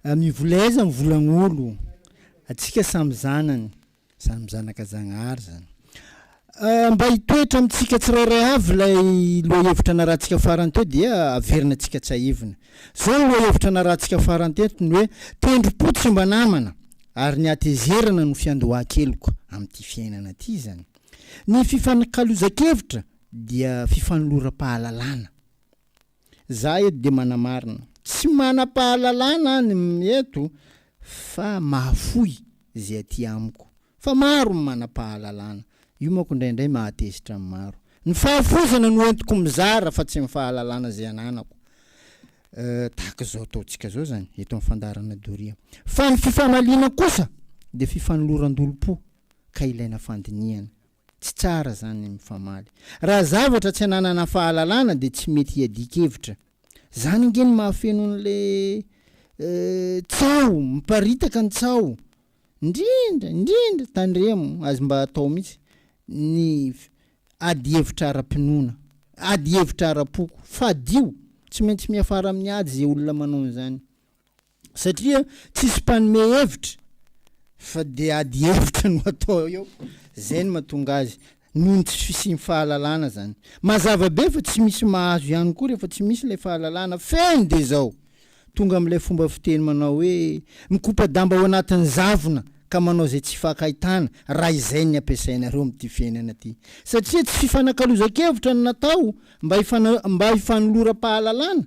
Mivola aiza ny volan'olo? Atsika samy zanany, samy zanaka Zagnahary zany. Mba hitoetra amintsika tsirairay avy ilay lohahevitra narahantsika farany teo dia averina antsika tsahivina. Zao ny lohahevitra narahantsika farany teto, ny hoe tendrom-po tsy mba namana ary ny hatezerana no fiandohan-keloka amin'ity fiainana ity izany. Ny fifanakalozan-kevitra dia fifanoloram-pahalalana. Za eto de manamarina. Tsy manapahalalana any eto fa mahafoy ze aty amiko. Fa maro ny manapahalalana. Io manko indraindray mahatezitra ny maro. Ny fahafoizana no entiko mizara fa tsy ny fahalalana ze ananako. Tahaka zao ataontsika zao zany eto am fandaharana doria. Fa ny fifamaliana kosa de fifanoloran-dolom-po ka ilaina fandinihana. Tsy tsara zany ny mifamaly. Raha zavatra tsy ananana fahalalana dia tsy mety hiadian-kevitra. Zany ange no mahafeno an'le tsaho miparitaka ny tsaho. Indrindra indrindra tandremo azy mba atao mitsy ny ady hevitra ara-pinoana. Ady hevitra ara-poko. Fadio. Tsy maintsy miafara amin'ny ady ze olona manao an'zany. Satria tsisy mpanome hevitra fa dia ady hevitra no atao eo, zay no mahatonga azy, noho ny tsy fisian'ny fahalalana zany. Mazava be fa tsy misy mahazo ihany koa rehefa tsy misy ilay fahalalana feno dia zao, tonga amin'ilay fomba fiteny manao hoe, mikopa-damba ao anatin'ny zavona ka manao zay tsy hifankaitana raha izay ny ampiasainareo amin'ity fiainana ity. Satria tsy fifanakalozan-kevitra no natao mba mba hifanoloram-pahalalana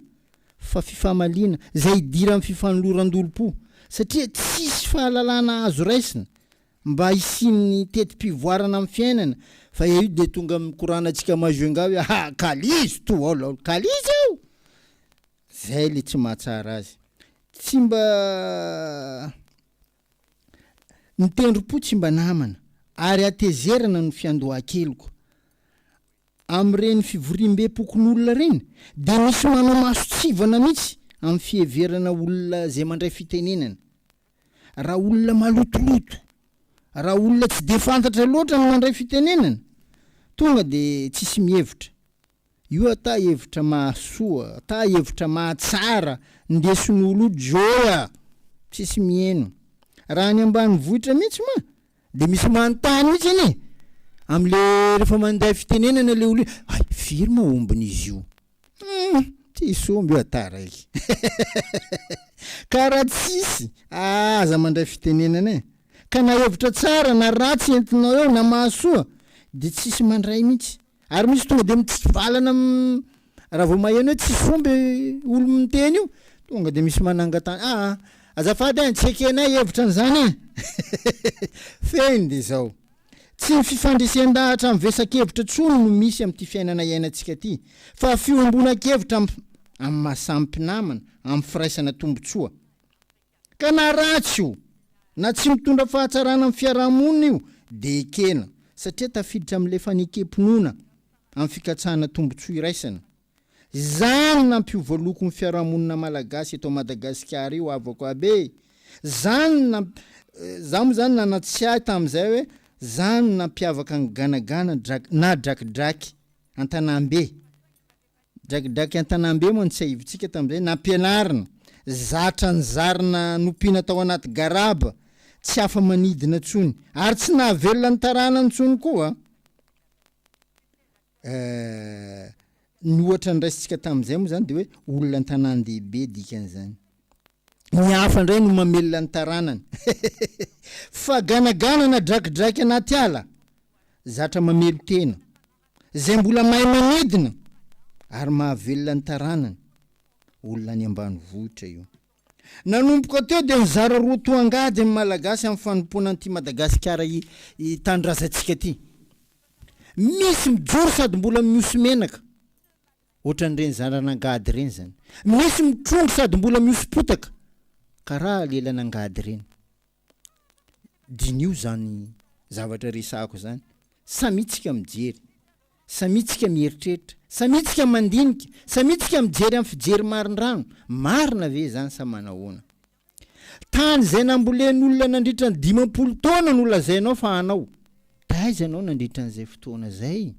fa fifamaliana izay idiran'ny fifanoloran-dolom-po satria tsisy fahalalana azo raisina mba hisian'ny teti-pivoarana amin'ny fiainana fa eo dia tonga mikorana antsika Majunga hoe ha! kalizo to all all kalizo io! izay ilay tsy mahatsara azy tsy mba Ny tendrom-po tsy mba namana ary hatezerana ny fiandohan-keliko. Amin'ireny fivoriam-bem-pokonolona ireny dia misy manao masontsivana mihitsy amin'ny fiheverana olona izay mandray fitenenana. Raha olona malotoloto, raha olona tsy dia fantatra loatra ny mandray fitenenana, tonga dia tsisy mihevitra. Io ata hevitra mahasoa ata hevitra mahatsara ndesin'olo joy a! Tsisy miheno. Raha any ambanivohitra mihitsy ma de misy manontany mihitsy anie amle refa manday fitenenana le olo hoe hay firy ma ombin'izy io? Hum! Tsisy omby io ata raiky ka raha tsisy a aza mandray fitenenana e! Ka na hevitra tsara na ratsy entinao eo na mahasoa de tsisy mandray mihitsy. Ary misy tonga dia mitsivalana raha vao maheno hoe tsisy fomba io olona miteny io, tonga dia misy manangan-tany, aa azafady an, tsy ekenay hevitra an'izany e! Fehiny dia izao, tsy ny fifandresen-dahatra amin'ny vesakevitra intsony no misy amin'ity fiainana iainantsika ity, fa fihombonan-kevitra amin'ny maha-samy mpinamana, amin'ny firaisana tombontsoa. Ka na ratsy io, na tsy mitondra fahatsarana amin'ny fiaraha-monina io dia ekena satria tafiditra amin'ilay fanekem-pinoana amin'ny fikatsahana tombontsoa iraisana. Zany nampiova loko ny fiaraha-monina malagasy eto Madagasikara io havako aby e! Zany namp, za moa zany nanatsiahy tamin'izay hoe zany nampiavaka an'i Ganagana drak, na Drakidraky an-tanàmbe. Drakidraky an-tanàmbe moa ny tsiahivontsika tamin'izay, nampianarina, zatra nizarina nompiana tao anaty garaba, tsy afa-manidina intsony, ary tsy nahavelona ny taranany intsony koa eh. Ny ohatra noraisintsika tamin'izay moa izany dia hoe olona an-tanàn-dehibe dikan'izany. Ny hafa indray no mamelona ny taranany. Fa ganagana na drakidraky anaty ala, zatra mamelon-tena, Izay mbola mahay manidina ary mahavelona ny taranany. Olona any ambanivohitra io. Nanomboka teo dia nizara roa toa angady ny Malagasy amin'ny fanompoana an'ity Madagasikara tanindrazantsika ity. Misy mijoro sady mbola mihoso menaka, ohatran'ireny zanan'angady ireny izany. Misy mitrongy sady mbola mihoso-potaka, karaha lelan'angady ireny. Diniho izany zavatra resahako izany, samia tsika mijery, samia tsika mieritreritra, samia tsika mandinika, samia tsika mijery amin'ny fijery marindrano, marina ve izany sa manahoana? Tany izay nambolen'olona nandritra ny dimampolo taona no lazainao fa anao. Taiza ianao nandritra an'izay fotoana izay?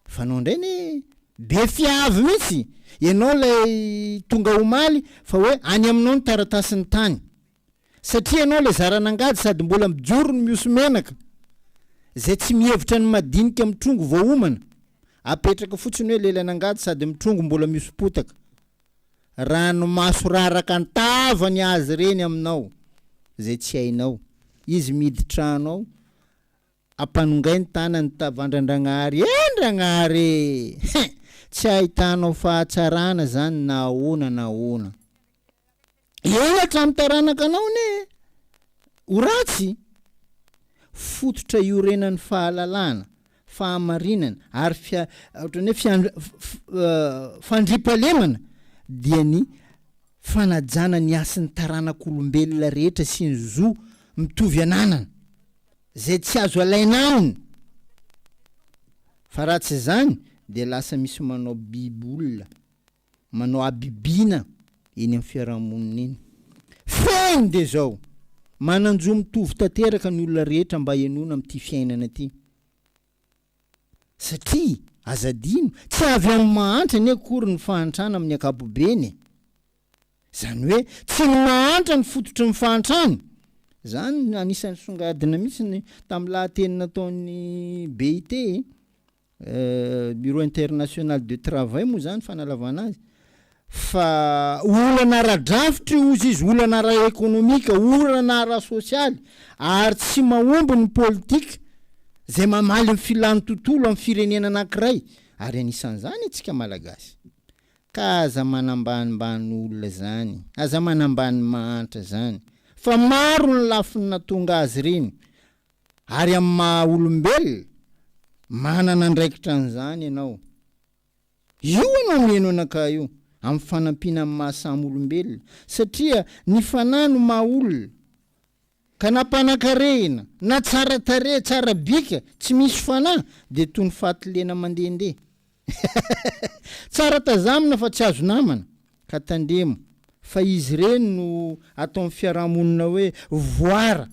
Fanao indray anie e! Be fiavy mihitsy ianao ilay tonga omaly fa hoe any aminao ny taratasin'ny tany. Satria ianao ilay zaran'angady sady mbola mijoro ny mihoso-menaka, izay tsy mihevitra ny madinika mitrongo vao homana, apetraka fotsiny hoe lelan'angady sady mitrongo mbola mihoso-potaka. Ranomaso raraka an-tava ny azy ireny aminao, izay tsy hainao. Izy miditra ao, Ampanongay ny tanany tavandra'Andragnahary eh Andragnahary e! Hein! Tsy ahitanao fahatsarana zany na ahoana na ahoana. Eo hatramin'ny taranakanao anie ho ratsy. Fototra iorenan'ny fahalalana, fahamarinana ary fia, ohatran'ny hoe fian, fandriampahalemana dia ny fanajana ny hasin'ny taranak'olombelona rehetra sy ny zo mitovy ananana. Izay tsy azo alaina aminy. Fa raha tsy izany dia lasa misy manao biby olona, manao habibiana eny amin'ny fiarahamonina eny. Fehiny dia izao, manan-jo mitovy tanteraka ny olona rehetra mba henoina amin'ity fiainana ity. Satria, aza adino, tsy avy amin'ny mahantra anie akory ny fahantrana amin'ny ankapobeny e! Izany hoe, tsy ny mahantra no fototry ny fahantrana. Izany no anisan'ny nisongadina mihitsy ny tamin'ny lahateny nataon'ny BIT e! Bureau International de Travail moa izany fanalavana azy. fa olana ara-drafitra io ozy izy, olana ara-ekonomika, olana ara-sosialy ary tsy mahomby ny politika izay mamaly ny filan'ny tontolo amin'ny firenena anankiray ary anisan'izany antsika Malagasy. Ka aza manambanimbany olona izany, aza manambany mahantra izany fa maro ny lafiny natonga azy ireny ary amin'ny maha olombelona manana andraikitra an'izany ianao. Io ianao mihaino anakahy io amin'ny fanampiana amin'ny maha samy olombelona satria ny fanahy no maha olona ka na mpanakarehina na tsara tarehy tsara bika tsy misy fanahy dia toy ny fatilena mandehandeha tsara tazamina fa tsy azo namana ka tandremo fa izy ireny no ataon'ny fiarahamonina hoe voara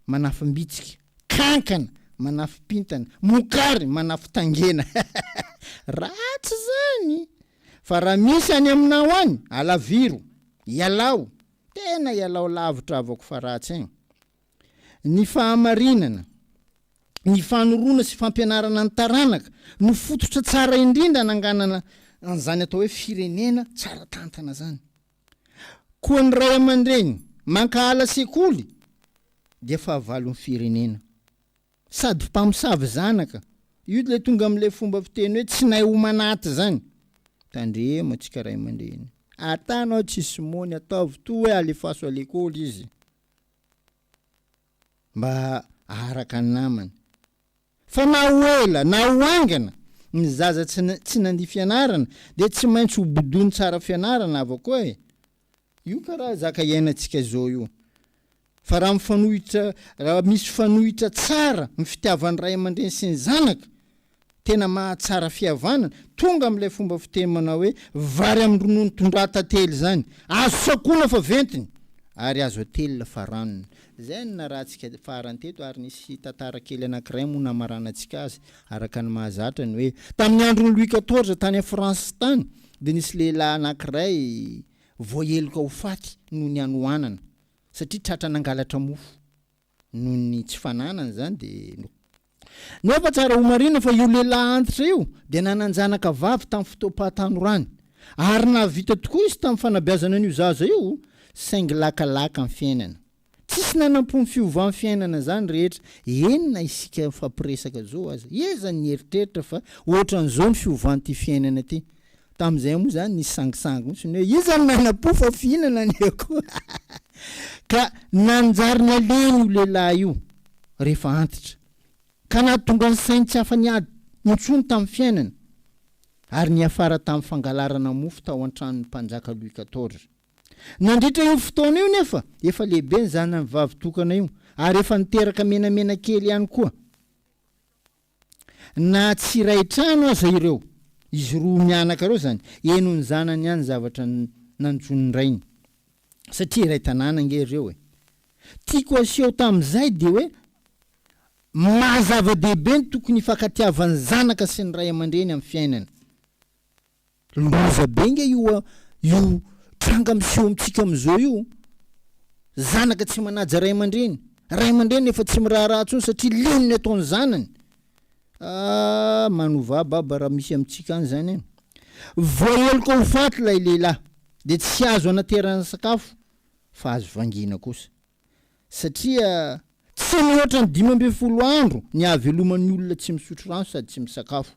manafimbitsika. Kankana manafim-pintana, mokary manafin-tangena. Ratsy zany! Fa raha misy any aminao any, alaviro! Ialao! Tena ialao lavitra avoko fa ratsy ein! Ny fahamarinana, ny fanorona sy fampianarana ny taranaka no fototra tsara indrindra ananganana an'izany atao hoe firenena tsara tantana zany. Koa ny ray aman-dreny mankahala sekoly dia fahavalon'ny firenena. Sady mpamosavy zanaka, io ilay tonga amin'ilay fomba fiteny hoe tsy nahay homanaty izany. Tandremo antsika ray aman-dreny. Atanao tsy sy mony, ataovy toa hoe alefaso à l'école izy. mba aharaka ny namany. Fa na ho ela na ho haingana, ny zaza tsy tsy nandia fianarana dia tsy maintsy ho bodoiny tsara fianarana avakoa e! Io ka raha zaka iainantsika izao io. Fa raha mifanohitra, raha misy fanohitra tsara ny fitiavan'ny ray aman-dreny sy ny zanaka Tena mahatsara fihavanana, tonga amin'ilay fomba fiteny manao hoe vary amin'ny ronono tondrahan-tantely izany, azo sakoana fa ventiny ary azo atelina fa ranony. Izay no narahantsika farany teto ary nisy tantara kely anankiray moa namaranantsika azy araka ny mahazatra ny hoe tamin'ny andron'i Louis quatorze tany France tany dia nisy lehilahy anankiray voaheloka ho faty noho ny hanohanana satria tratra nangalatra mofo noho ny tsy fananany izany dia no. Nefa tsara homarihina fa io lehilahy antitra io dia nanan-janaka vavy tamin'ny fotoam-pahatanorany, ary nahavita tokoa izy tamin'ny fanabeazana an'io zaza io, saingy lakalaka ny fiainana. Tsisy nanampo ny fiovan'ny fiainana izany rehetra, eny na isika mifampiresaka izao aza. Iza no nieritreritra fa hoatran'izao ny fiovan'ity fiainana ity? Tamin'izay moa izany nisy sangisangy mihitsy ny hoe iza no nanam-po fa fihinana ny akoho ka nanjary nalehiny io lehilahy io rehefa antitra ka nahatonga ny sainy tsy afa-niady intsony tamin'ny fiainany ary niafara tamin'ny fangalarana mofo tao an-tranon'ny mpanjaka Louis quatorze. Nandritra io fotoana io nefa efa lehibe ny zanany vavy tokana io ary efa niteraka menamena kely ihany koa. Na tsy iray trano aza ireo, izy roa mianaka ireo izany, henon'ny zanany ihany ny zavatra nanjono ny rainy. Satria iray tanàna ange ireo e! Tiako aseho tamin'izay dia hoe maha zava-dehibe ny tokony hifankatiavan'ny zanaka sy ny ray aman-dreny amin'ny fiainana. Loza be nga io a! Io tranga miseho amintsika amin'izao io, zanaka tsy manaja ray aman-dreny, ray aman-dreny efa tsy miraharaha intsony satria leo ny ataon'ny zanany. Ah! Manovà baba raha misy amintsika any izany an! Voaheloka ho faty ilay lehilahy dia tsy azo anaterana sakafo fa azo vangiana kosa satria tsy mihoatra ny dimy ambin'ny folo andro ny ahaveloman'ny olona tsy misotro rano sady tsy misakafo.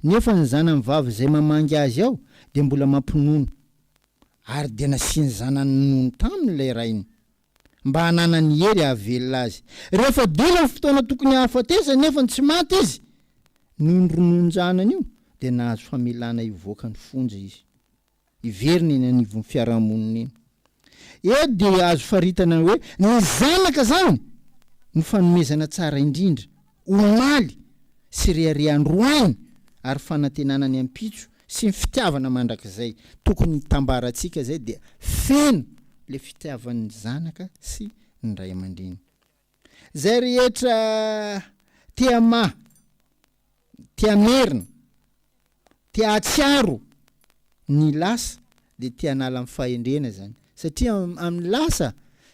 nefa ny zanany vavy izay mamangy azy ao dia mbola mampinono, ary dia nasiany zanany ninono taminy ilay rainy, mba hananany hery hahavelona azy. Rehefa dela ny fotoana tokony hahafatesany nefa tsy maty izy, noho ny rononon-janany io, dia nahazo famelana hivoaka ny fonja izy. hiverina eny anivon'ny fiarahamonina eny. Eto dia azo faritana hoe ny zanaka izany no fanomezana tsara indrindra, omaly sy rehareha andro ainy ary fanantenana ny ampitso sy ny fitiavana mandrakizay. Tokony hitambarantsika izay dia feno ilay fitiavan'ny zanaka sy ny ray aman-dreny. Zay rehetra te hamaha, te hamerina, te hahatsiaro ny lasa dia te hanala ny fahendrena izany. Satria amin'ny lasa,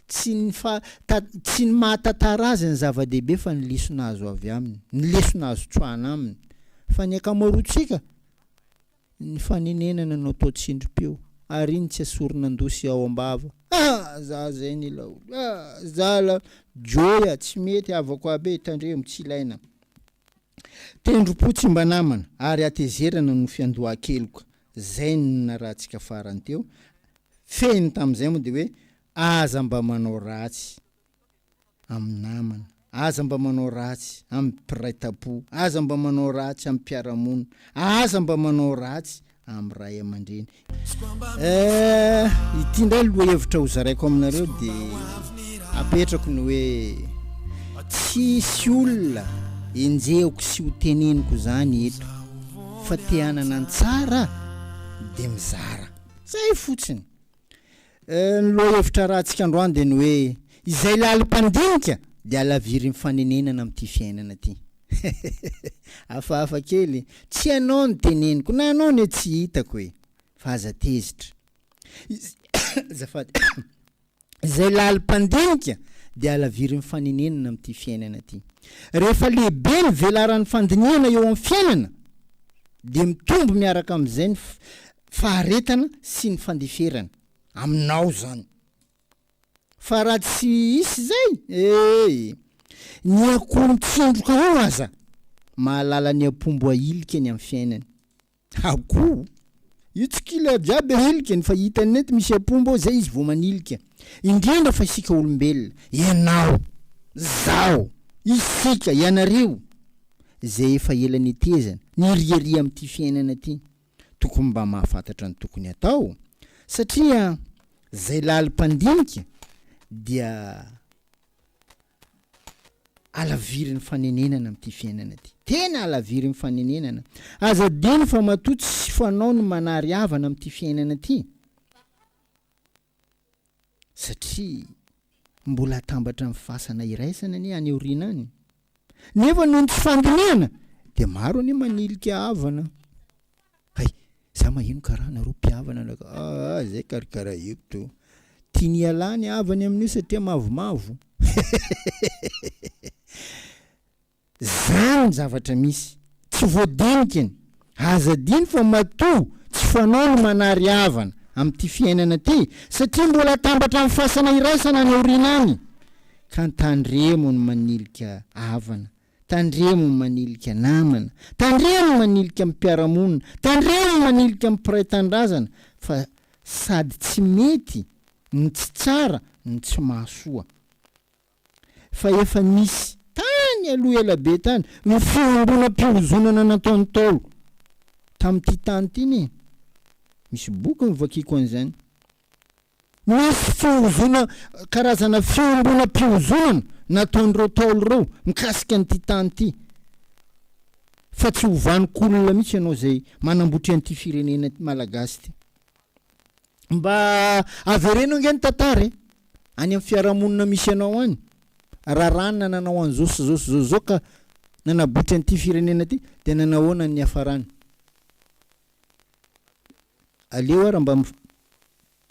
tsy ny fa, ta, tsy ny maha tantara azy ny zava-dehibe fa ny lesona azo avy aminy, ny lesona azo tsoahana aminy. Fa ny ankamaroantsika Ny fanenenana no atao tsindrim-peo, ary iny tsy asoron'an-dosy ao am-bava. Ah! za zay ny laolo ah! za la joy ah! tsy mety havako aby e! tandremo, tsy ilaina tendrom-po tsy mba namana, ary hatezerana no fiandohan-keloka. Zay no narahantsika farany teo, fehiny tamin'izay moa dia hoe aza mba manao ratsy. amin'ny namana, aza mba manao ratsy amin'ny mpiray tampo, aza mba manao ratsy amin'ny mpiara-monina, aza mba manao ratsy amin'ny ray aman-dreny. Eh, ity indray lohahevitra hozaraiko aminareo dia apetrako ny hoe tsisy olona enjehiko sy ho teneniko izany eto fa te hanana ny tsara dia mizara. Izay fotsiny. Ny lohahevitra rahantsika androany dia ny hoe izay lalim-pandinika dia halavirin'ny fanenenana amin'ity fiainana ity. Hafahafa kely, tsy ianao no teneniko, na anao anie tsy hitako e! Fa aza tezitra. Azafady. Izay lalim-pandinika dia halavirin'ny fanenenana amin'ity fiainana ity. Rehefa lehibe ny velaran'ny fandinihana eo amin'ny fiainana dia mitombo miaraka amin'izay ny faharetana sy ny fandeferana aminao zany fa raha tsy hisy zay ee ny akoho mitsindroka ao aza mahalala ny ampombo ahilika ny am fiainany akoho io tsy kila jiaby ahilikany fa hitany mety misy ampombo ao zay izy vao manilika indrindra fa isika olombelona ianao zaho isika ianareo zay efa ela netezana niriaria am ty fiainana ty Tokony mba mahafantatra ny tokony atao satria zay lalim-pandinika dia alavirin'ny fanenenana amin'ity fiainana ty. Tena alavirin'ny fanenenana. Aza adino fa matoa tsy fanao ny manary havana amin'ity fiainana ty. satria mbola hatambatra amin'ny fasana iraisana anie any aoriana any, nefa noho ny tsy fandinihana dia maro anie manilika havana, hay za maheno karaha nareo mpihavana na ka aa zay karakara ito, tiany hiala ny havany amin'io satria mavomavo, hehehehehe. Zany ny zavatra misy. Tsy voadinika ny. Aza adino fa matoa tsy fanao ny manary havana amin'ity fiainana ity satria mbola atambatra amin'ny fasana iraisana any aoriana any. Ka tandremo ny manilika havana, tandremo ny manilika namana, tandremo ny manilika amin'ny mpiara-monina, tandremo ny manilika amin'ny mpiray tanindrazana fa sady tsy mety ny tsy tsara no tsy mahasoa. fa efa nisy tany aloha ela be tany ny fiangonam-pihozonana nataon'ny Ntaolo tamin'ity tany ity anie. Misy boky novakiako an'izany. Nisy fihozona karazana fiangonam-pihozonana nataon'ireo Ntaolo ireo mikasika an'ity tany ity. Fa tsy ho vanon-kolona mihitsy ianao izay manambotra an'ity firenena malagasy ity. Mba avereno ange ny tantara e! Any amin'ny fiarahamonina misy anao any, raràna nanao an'izao sy izao sy izao sy izao ka nanabotry an'ity firenena ity dia nanahoana ny niafarany? Aleo ara mba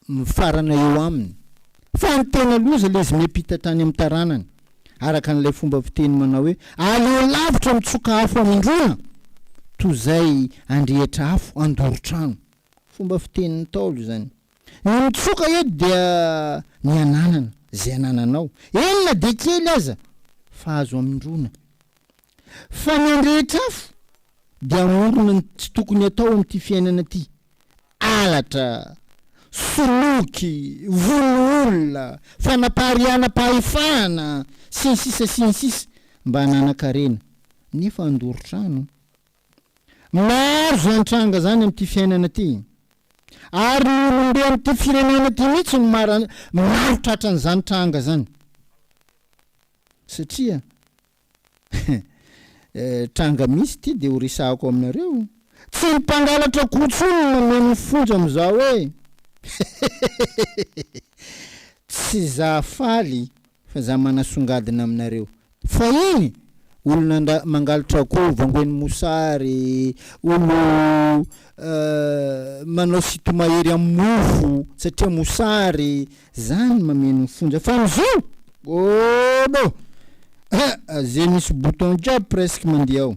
mifarana eo aminy. Fa ny tena loza ilay izy miampita hatrany amin'ny taranany, araka an'ilay fomba fiteny manao hoe, aleo lavitra mitsoka afo amindrona toa izay handrehitra afo handoro trano. Fomba fitenin'ny Ntaolo izany. Ny mitsoka eto dia ny ananana izay anananao, eny na dia kely aza, fa azo amindroina. Fa ny an-drehetra afo dia amorona ny tsy tokony atao amin'ity fiainana ity, halatra, soloky, vono olona, fanapariahana-pahefana, sy ny sisa sy ny sisa, mba hananan-karena, nefa handoro trano. Maro izany tranga izany amin'ity fiainana ity. Ary ny olomben'ity firenena ity mihitsy no mara, maro tratran'izany tranga izany. Satria tranga misy ity dia ho resahako aminareo. Tsy ny mpangalatra akoho intsony no mameno ny fonja amin'izao hoe tsy za faly Fa za manasongadina aminareo. Fahiny! Olona mangalotra akoho vongoin'ny mosary, olo manao sinto-mahery amin'ny mofo satria mosary, zany mameno ny fonja. Fa amizao! Obo! Heh! Ze misy bouton jiaby presque mandeha ao.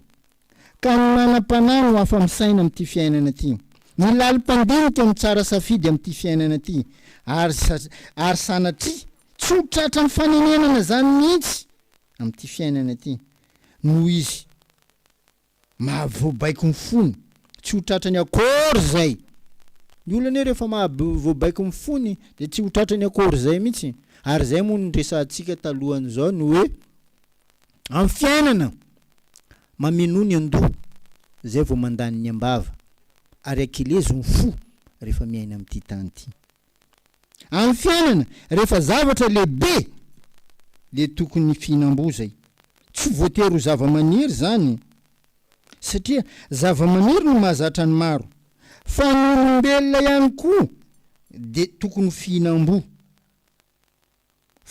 Ka ny manam-panahy no afa-misaina amin'ity fiainana ity. Ny lalim-pandinika no tsara safidy amin'ity fiainana ity. Ary, ary sanatria, tsy ho tratran'ny fanenenana izany mihitsy amin'ity fiainana ity. Noho izy mahavoabaiko ny fony, tsy ho tratrany akory izay. Ny olona anie rehefa mahavoabaiko ny fony dia tsy ho tratrany akory izay mihitsy. Ary izay moa no niresahantsika talohan'izao ny hoe, Am fiainana, mamenoa ny andoha zay vao mandany ny ambava, ary akelezo ny fo rehefa miaina amty tany ty. Am fiainana, rehefa zavatra lehibe le tokony fihinam-boa zay. Tsy voatery ho zava-maniry zany, satria zava-maniry no mahazatra ny maro, fa ny olombelona ihany koa de tokony ho fihinam-boa.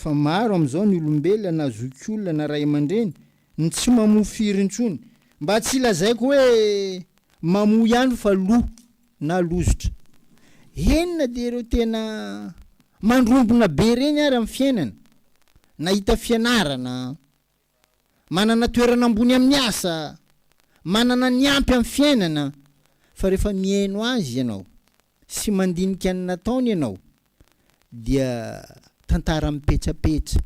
Fa maro amin'izao ny olombelona na zokiolona na ray aman-dreny no tsy mamoa firy intsony. Mba tsy lazaiko hoe mamoa ihany fa lo na lozotra. Heno na dia ireo tena mandrombona be ireny ary amin'ny fiainana, nahita fianarana, manana toerana ambony amin'ny asa, manana ny ampy amin'ny fiainana. Fa rehefa mihaino azy ianao. sy mandinika ny nataony ianao dia tantara mipetsapetsa,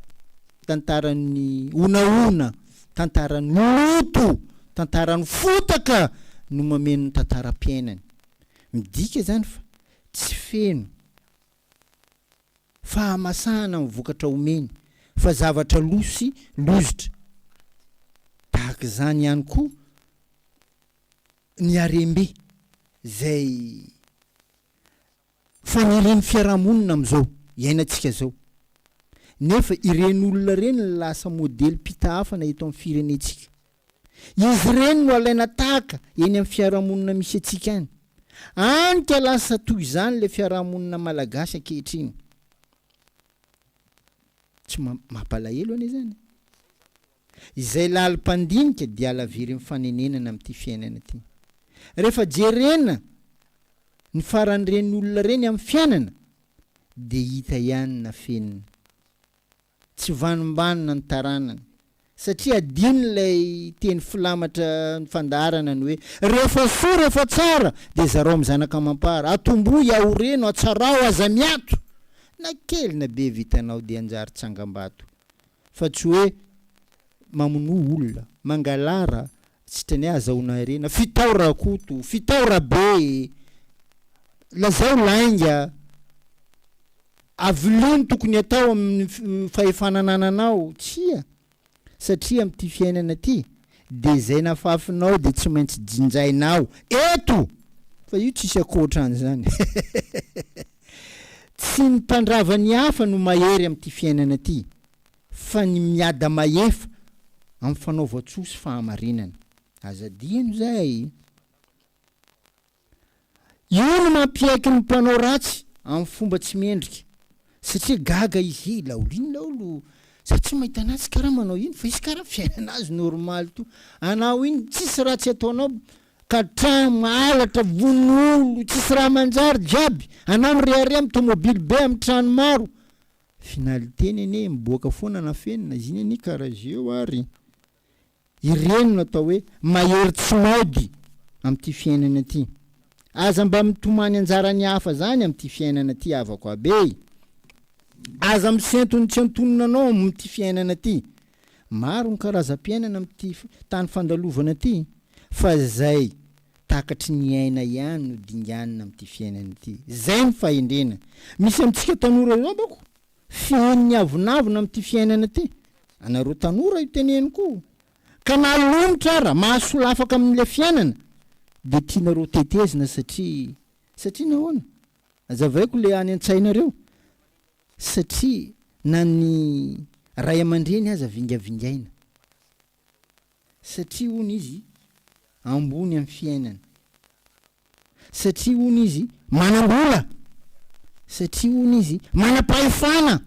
tantaran'ny honahona, tantaran'ny loto, tantaran'ny fotaka no mameno ny tantaram-piainany. Midika izany fa tsy feno fahamasahana ny vokatra omeny fa zavatra lo sy lozitra. Tahaka izany ihany koa ny harem-be izay fanirian'ny fiarahamonina amin'izao iainantsika izao, nefa ireny olona ireny no lasa modelim-pitahafana eto amin'ny firenentsika. Izy ireny no alaina tahaka eny amin'ny fiarahamonina misy antsika any, any ka lasa toy izany ilay fiarahamonina malagasy ankehitriny. Tsy mampalahelo anie izany e! Izay lalim-pandinika dia halavirin'ny fanenenana amin'ity fiainana ity. Rehefa jerena ny faran'ireny olona ireny amin'ny fiainana dia hita ihany na feno tsy vanimbanina ny taranany satria adinon'ilay teny filamatra ny fandaharana ny hoe, Rehefa soa, rehefa tsara, dia zarao amin'ny zanaka amam-para. Atombohy, ahoreno, atsarao, aza miato. Na kely na be vitanao dia hanjary tsangambato. fa tsy hoe mamonoa olona, mangalara, sitrany hoe azahoana harena, fitao rakoto, fitao rabe e! lazao lainga, avelao ny tokony atao amin'ny fahefana anananao, tsia, satria amin'ity fiainana ity dia izay nafafinao dia tsy maintsy jinjainao eto! fa io tsisy ankoatran'izany. Tsy ny mpandrava ny hafa no mahery amin'ity fiainana ity fa ny miada mahefa amin'ny fanaovan-tsoa sy fahamarinana. Aza adino izay. Io no mampiaiky ny mpanao ratsy amin'ny fomba tsy mendrika satria gaga izy he laolo iny laolo za tsy mahita anazy tsy karaha manao iny fa izy karaha fiainana azy normaly toa anao iny tsisy ratsy ataonao ka tramo halatra vono olo tsisy raha manjary jiaby anao mirehareha am tomobily be am trano maro finaliteny anie miboaka foana anafenina izy iny anie kara zeo ary ireny no atao hoe mahery tsy maody am ty fiainana ty aza mba mitomany anjara ny hafa zany am ty fiainana ty havako aby e aza misentony tsy antonona anao am ty fiainana ty Maro ny karazam-piainana amin'ity tany fandalovana ity fa izay takatry ny aina ihany no dinganina amin'ity fiainana ity. Izay ny fahendrena misy amintsika tanora izao manko, fehiny ny avonavona amin'ity fiainana ity. Anareo tanora io teneniko io ka na lomotra ara mahasolafaka amin'ilay fiainana dia tianareo tetezina satria satria nahoana? Azavaiko le any antsainareo satria na ny ray amandreny aza vingavingaina satria hono izy ambony am fiainana satria hono izy manambola satria hono izy manapahefana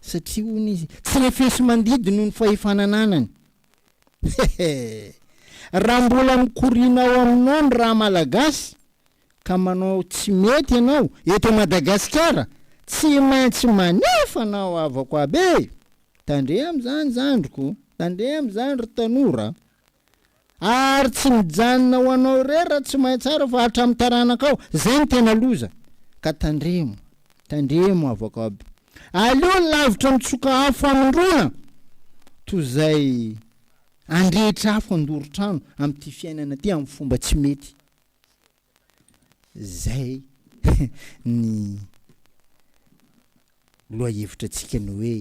satria hono izy tsy refesimandidy noho ny fahefana ananany hehe raha mbola mikoriana ao aminao ny raha malagasy ka manao tsy mety ianao eto Madagasikara tsy maintsy manefa anao havako aby e! Tandremo amin'izany zandriko, tandremo amin'izany ry tanora a! Ary tsy mijanona ho anao irery raha tsy mahay tsara fa hatramin'ny taranakao, zay no tena loza! Ka tandremo, tandremo havako aby! Aleo lavitra ny tsoka afo hamindrona toy izay andrehitra afo handoro trano amin'ity fiainana ity amin'ny fomba tsy mety Zay ny lohahevitra antsika ny hoe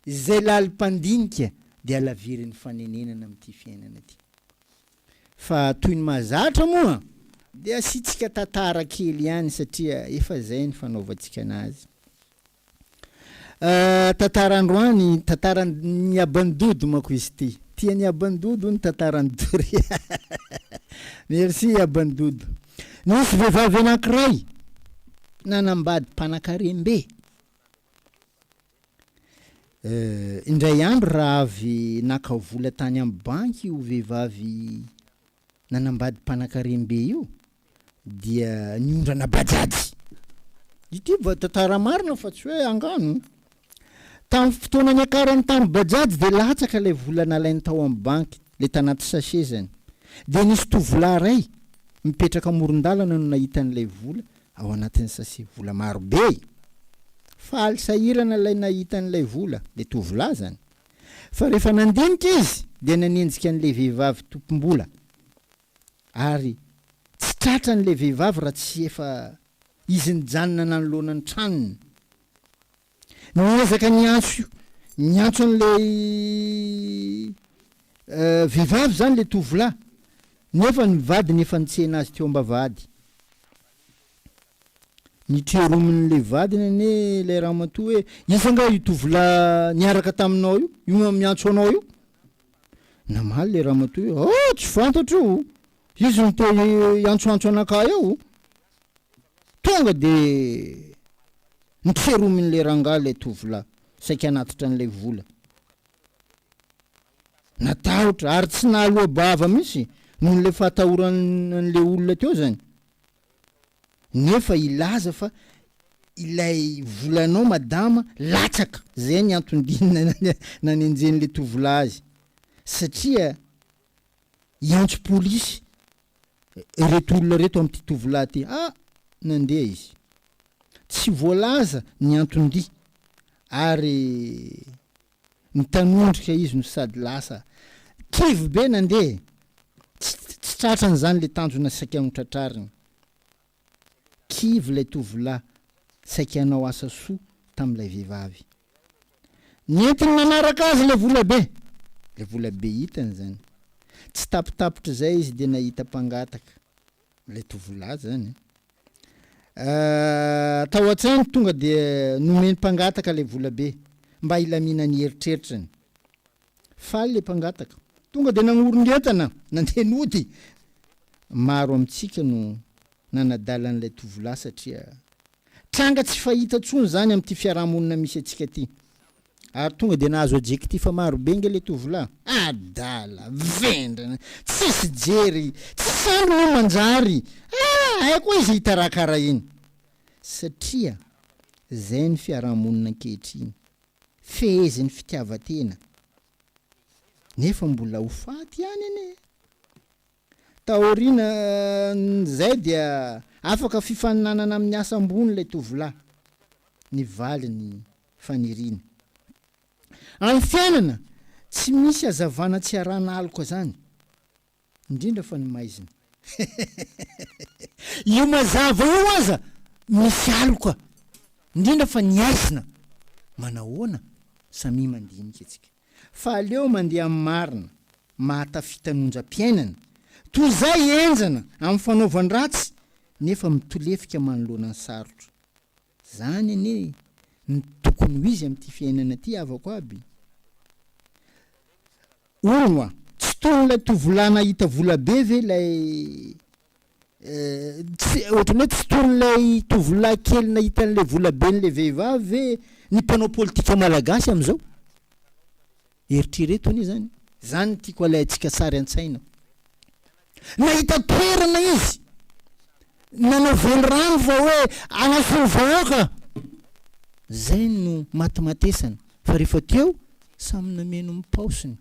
izay lalim-pandinika dia halavirin'ny fanenenana amin'ity fiainana ity. Fa toy ny mahazatra moa dia asiantsika tantara kely ihany satria efa zay ny fanaovantsika anazy. Tantara androany, tantaran'i Abandodo manko izy ity. Tian'i Abandodo ny tantaran'i Doria. Merci Abandodo. Nisy vehivavy anankiray nanambady mpanakarem-be. Indray andro raha avy naka vola tany amin'ny banky io vehivavy nanambady mpanakarem-be io. dia ny ondrana Bajaj. Ity va tantara marina fa tsy hoe angano. Tamin'ny fotoana niakarany tamin'ny Bajaj dia latsaka ilay vola nalainy tao amin'ny banky, ilay tanaty sachet izany. Dia nisy tovolahy iray mipetraka amoron-dalana no nahita an'ilay vola ao anatin'ny sachet, vola maro be. Faly sahirana ilay nahita an'ilay vola, ilay tovolahy izany. Fa rehefa nandinika izy dia nanenjika an'ilay vehivavy tompom-bola. ary tsy tratrany ilay vehivavy raha tsy efa izy nijanona nanoloana ny tranony. Niezaka niantso niantso an'ilay vehivavy izany ilay tovolahy, nefa ny vadiny efa nitsena azy teo am-bavahady. Notreromin'ilay vadiny anie ilay ramatoa hoe, Iza angaha io tovolahy niaraka taminao io, io miantso anao io? Namaly ilay ramatoa hoe, Oh, tsy fantatro o! Izy no te hiantsoantso anakahy ao o! Tonga dia notseromin'ilay rangahy ilay tovolahy, saika hanatitra an'ilay vola. Natahotra ary tsy nahaloa-bava mihitsy noho ilay fahatahorany an'ilay olona teo izany. nefa hilaza fa ilay volanao madama latsaka, zay ny anton-diny nanenjen'le tovolahy azy satria hiantso polisy reto olona reto amty tovolahy ty a! nandeha izy tsy voalaza ny anton-dia ary Nitanondrika izy no sady lasa kivy be nandeha. Tsy tsy tratran'izany ilay tanjona saika notratrariny. Kivy ilay tovolahy saika hanao asa soa tamin'ilay vehivavy. Nentiny nanaraka azy ilay volabe. Ilay volabe hitany izany. Tsy tapitapitr'izay izy dia nahita mpangataka. ilay tovolahy zany a. Ah, tao an-tsainy tonga dia nomeny mpangataka ilay volabe mba hilamina ny eritreritrany. Faly ilay mpangataka. Tonga dia nagnorona entana, nandeha nody. Maro amintsika no nanadala an'ilay tovolahy satria tranga tsy fahita intsony izany amin'ity fiarahamonina misy antsika ity. Ary tonga dia nahazo adjectif maro be nge le tovolahy. Adala! Vendrana! Tsisy jery! Tsy sahy moa manjary! Ah! Haiko hoe izay hitarakara iny. Satria izay ny fiaraha-monina ankehitriny. Fehezin'ny fitiavan-tena. Nefa mbola ho faty ihany anie. Taorian'izay dia afaka fifaninanana amin'ny asa ambony ilay tovolahy, ny valiny faniriana. Any fiainana tsy misy hazavana tsy arahana aloka zany, indrindra fa ny maizina. Io mazava io aza misy aloka, indrindra fa ny aizina. Manahoana? Samia mandinika isika. fa aleo mandeha amin'ny marina, mahatafita ny onjam-piainana, toy izay henjana amin'ny fanaovan-dratsy nefa mitolefika manoloana ny sarotra. Izany anie no tokony ho izy amin'ity fiainana ity havako aby. Hono oa, tsy toy ilay tovolahy nahita vola be ve ilay Tsy, ohatran'ny hoe tsy tolon'ilay tovolahy kely nahita an'ilay volaben'ilay vehivavy ve ny mpanao politika malagasy amin'izao? Eritrereto anie izany. Izany no tiako alaintsika sary an-tsaina. Nahita toerana izy, nanao velirano fa hoe hanasoa ny vahoaka. Izay no matimatesana. Fa rehefa teo, samy nameno ny paosiny.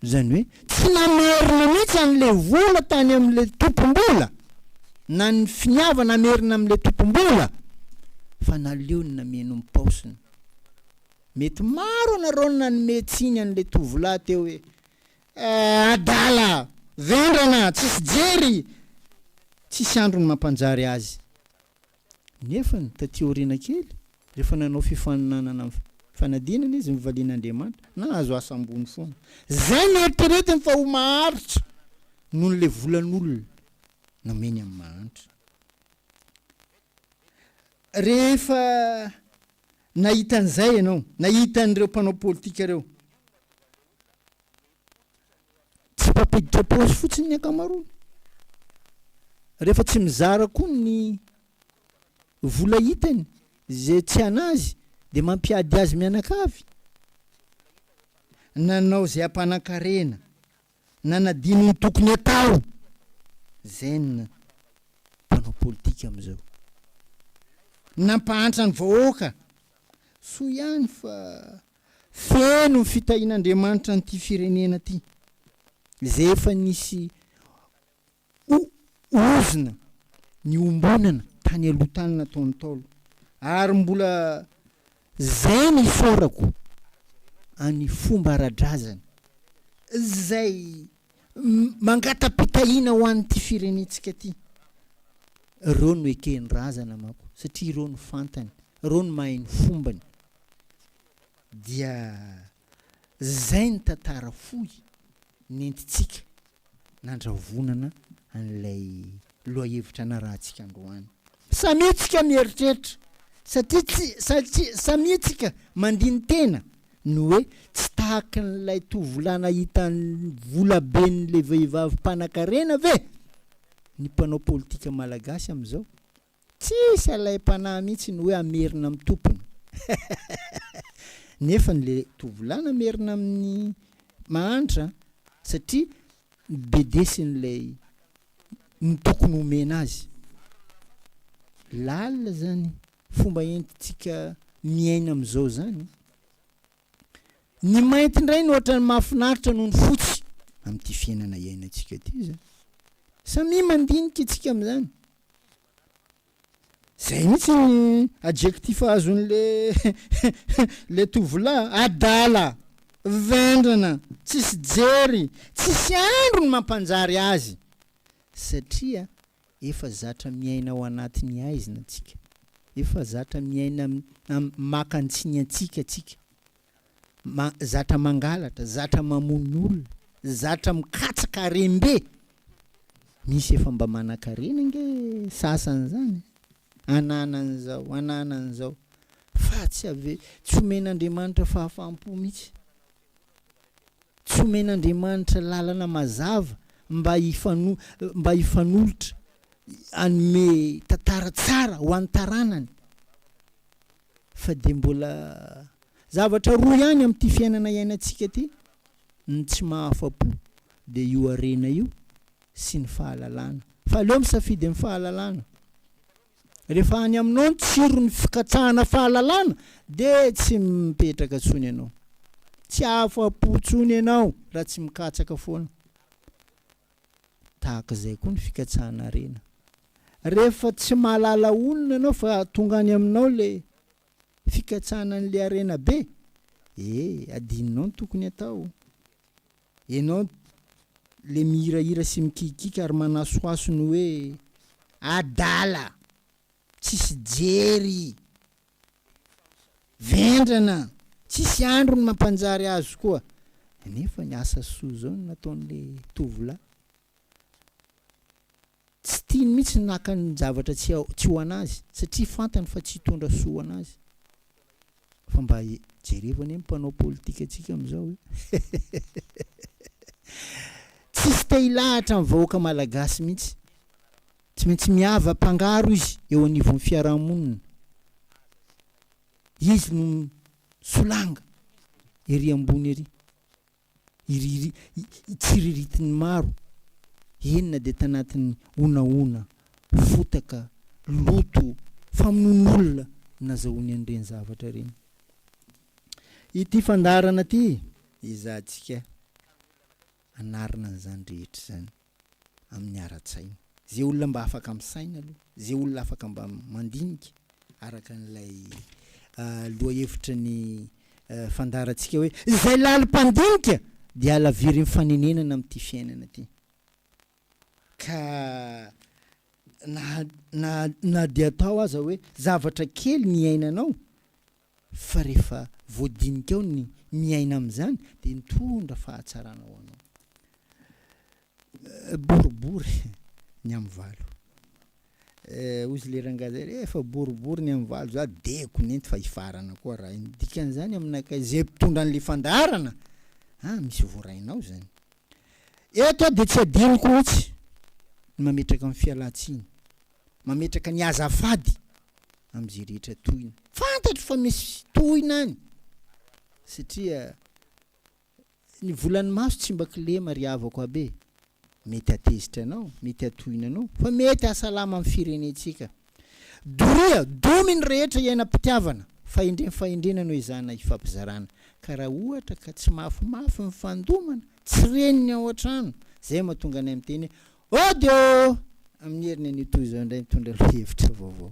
Izany hoe tsy namerina mihitsy an'ilay vola tany amin'ilay tompom-bola na ny finiavana hamerina amin'ilay tompom-bola fa naleony nameno ny paosiny. Mety maro ianareo no nanome tsiny an'ilay tovolahy teo hoe, Eh, adala, vendrana, tsisy jery, tsisy andro ny mampanjary azy. Nefany, taty aoriana kely, rehefa nanao fifaninanana amin'ny fanadinana izy, nivalian' Andriamanitra, nahazo asa ambony foana. Izay no eritreretiny fa ho maharitra noho ilay volan' olona nomeny amin'ny mahantra. Rehefa nahita an'izay ianao, nahita an'ireo mpanao politika ireo, tsy mpampiditra paosy fotsiny ny ankamaroany rehefa tsy mizara koa ny vola hitany zay tsy anazy de mampiady azy mianakavy nanao zay ampanan-karena nanadino ny tokony atao zay ny mpanao politika amizao nampahantra ny vahoaka soa ihany fa Feno ny fitahian'Andriamanitra an'ity firenena ity, izay efa nisy ozona niombonana tany aloha tany nataon'ny Ntaolo, ary mbola izay ny isaorako an'ny fomba ara-drazana izay mangata-pitahiana ho an'ity firenentsika ity. Ireo no eken'ny razana manko, satria ireo no fantany, ireo no mahay ny fombany. Dia izay ny tantara fohy nentintsika nandravonana an'ilay lohahevitra narahantsika androany. Samia tsika mieritreritra, satria tsy, satria samia tsika mandini-tena, ny hoe tsy tahaky n'ilay tovolahy nahita ny volaben'ilay vehivavy mpanan-karena ve ny mpanao politika malagasy amin'izao? Tsisy alaim-panahy mihitsy ny hoe hamerina amin'ny tompony. Nefany ilay tovolahy namerina amin'ny mahantra, satria ny bedesiny ilay ny tokony homena azy. Lalina zany fomba entintsika miaina amin'izao zany. Ny mainty indray no ohatran'ny mahafinaritra noho ny fotsy amin'ity fiainana iainantsika ity zany. Samia mandinika isika amin'izany. Zay mihitsy ny adjectif azon le le tovolahy, adala, vendrana, tsisy jery, tsisy andro ny mampanjary azy satria efa zatra miaina ao anatin'ny aizina tsika, efa zatra miaina am maka antsiny antsika tsika. zatra mangalatra, zatra mamono olona, zatra mikatsaka harem-be, misy efa mba manan-karena ange sasany zany ananan'izao ananan'izao fa tsy ave- tsy omen'Andriamanitra fahafaham-po mihitsy, tsy omen'Andriamanitra lalana mazava mba hifano- mba hifanolotra hanome tantara tsara ho an'ny taranany. fa dia mbola zavatra roa ihany amin'ity fiainana iainantsika ity, ny tsy mahafa-po, dia io harena io, sy ny fahalalana. Fa aleo misafidy amin'ny fahalalana. Rehefa any aminao ny tsiron'ny fikatsahana fahalalana, dia tsy mipetraka intsony ianao. Tsy afa-po intsony ianao raha tsy mikatsaka foana. Tahaka izay koa ny fikatsahana harena. Rehefa tsy mahalala olona ianao fa tonga any aminao ilay fikatsahana an'ilay harena be, e, adinonao ny tokony hatao. Ianao ilay mihirahira sy mikiakiaka ary manasohaso ny hoe, Adala! Tsisy jery! Vendrana, tsisy andro ny mampanjary azy koa. Nefa ny asa soa zao no nataon'le tovolahy. Tsy tiany mihitsy ny naka ny zavatra tsy tsy ho anazy satria fantany fa tsy hitondra soa ho anazy. Fa mba jereva anie ny mpanao politika antsika amizao e. Tsisy te hilahatra ny vahoaka malagasy mihitsy. Tsy maintsy miava pangaro izy eo anivon'ny fiarahamonina. Izy no misolanga ery ambony ery. Tsiriritin'ny maro, eny na dia tanatin'ny honahona, fotaka, loto, famonoan'olona nazahoany an'ireny zavatra ireny. Ity fandaharana ity, ezahantsika anarina an'izany rehetra izany. amin'ny ara-tsaina. Izay olona mba afaka misaina aloha, izay olona afaka mba mandinika, araka an'ilay lohahevitry ny fandaharantsika hoe izay lalo mpandinika dia halavirin'ny fanenenana amin'ity fiainana ity. Ka na na na dia atao aza hoe zavatra kely ny iainanao, fa rehefa voadinika ao ny miaina amin'izany dia nitondra fahatsarana ho anao. Boribory ny amin'ny valo. Hoy zle rangahy zay, rehefa boribory ny amin'ny valo za diako nenty fa hifarana koa raha iny. Dikan'izany aminakay, zay mpitondra an'le fandaharana, ah misy voarainao zany. Eto aho dia tsy adinoko mihitsy ny mametraka ny fialantsiny mametraka ny azafady amin'izay rehetra tohina. Fantatro fa misy tohina any satria ny volan'ny maso tsy mba kilema ry havako abe. Mety hatezitra anao, mety hatohina anao fa mety hahasalama ny firenentsika. Doria, domy ny rehetra iainam-pitiavana, fahendrena fahendrena no ezahina hifampizarana ka raha ohatra ka tsy mafimafy ny fandomana, tsy reniny ao an-trano, izay mahatonga anay miteny hoe Audio, Amin'ny heriny anio toy izao indray mitondra lohahevitra vaovao.